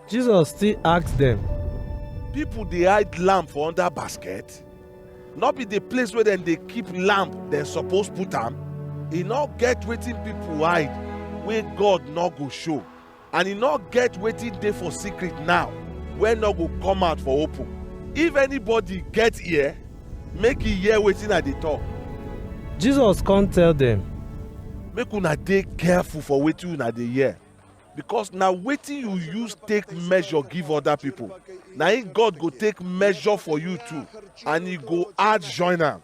Jesus still ask dem, People dey hide lamb for under basket? No be the place where dem dey keep lamb dem suppose put am? E no get wetin people hide wey God no go show, and e no get wetin dey for secret now wey no go come out for open. If anybody get ear, make e hear wetin I dey talk. Jesus come tell dem, Make una dey careful for wetin una dey hear. Because na wetin you use take measure give other people, na im God go take measure for you too, and He go add join am.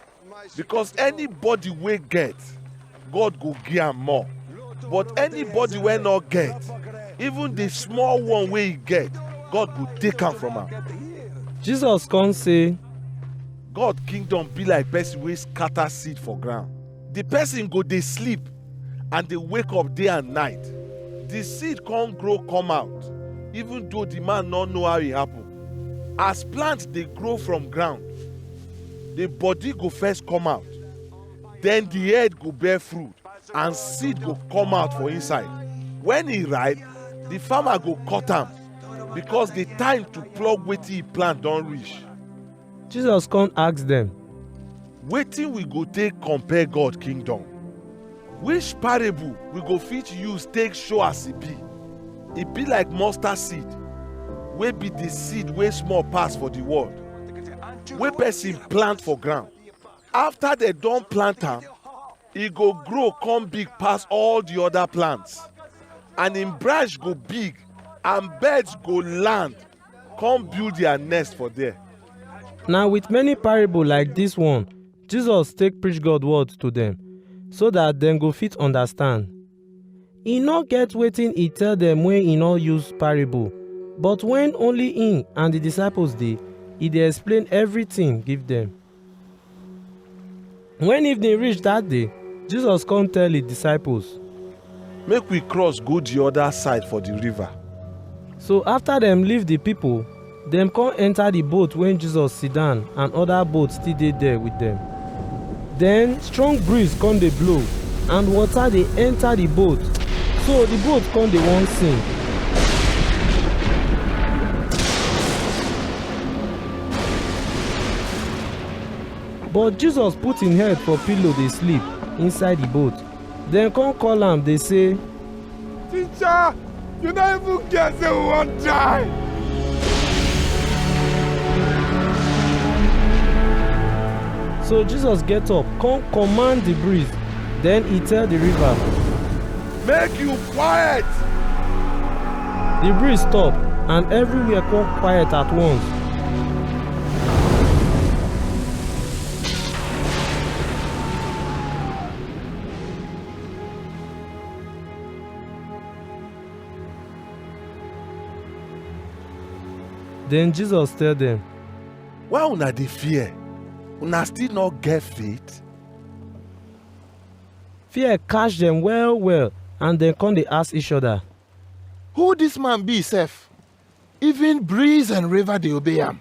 Because anybody wey get, God go give am more. But anybody wey no get, even the small one wey he get, God go take am from am. Jesus come say, God kingdom be like person wey scatter seed for ground. the person go dey sleep and dey wake up day and night the seed come grow come out even though the man no know how e happen as plant dey grow from ground the body go first come out then the head go bear fruit and seed go come out for inside when e ripe the farmer go cut am because the time to pluck wetin e plant don reach Jesus come ask dem, wetin we go take compare god kingdom which parable we go fit use take show as e be e be like mustard seed wey be the seed wey small pass for the world wey person plant for ground after dem don plant am e go grow come big pass all the other plants and im branch go big and birds go land come build their nest for there. Na with many parable like dis one, Jesus take preach God word to dem, so dat dem go fit understand. E no get wetin e tell dem wey e no use parable, but wen only im and di disciples dey, e dey explain everything give dem. When evening reach that day, Jesus come tell his disciples. Make we cross go the other side for the river. So after dem leave the people, dem come enter the boat wey Jesus sit down and other boats still dey there with dem. Then strong breeze come dey blow and water dey enter the boat, so the boat come dey wan sink. But Jesus put im head for pillow dey sleep inside the boat. Dem come call am dey say, Teacher, you no even care say we wan die. So Jesus get up, come command the breeze. Then he tell the river, Make you Quiet! The breeze stop and everywhere come quiet at once. Then Jesus tell them, Why una dey fear? Una still no get faith? Fear catch dem well well and dem come dey ask each other. Who this man be sef? Even breeze and river dey obey am.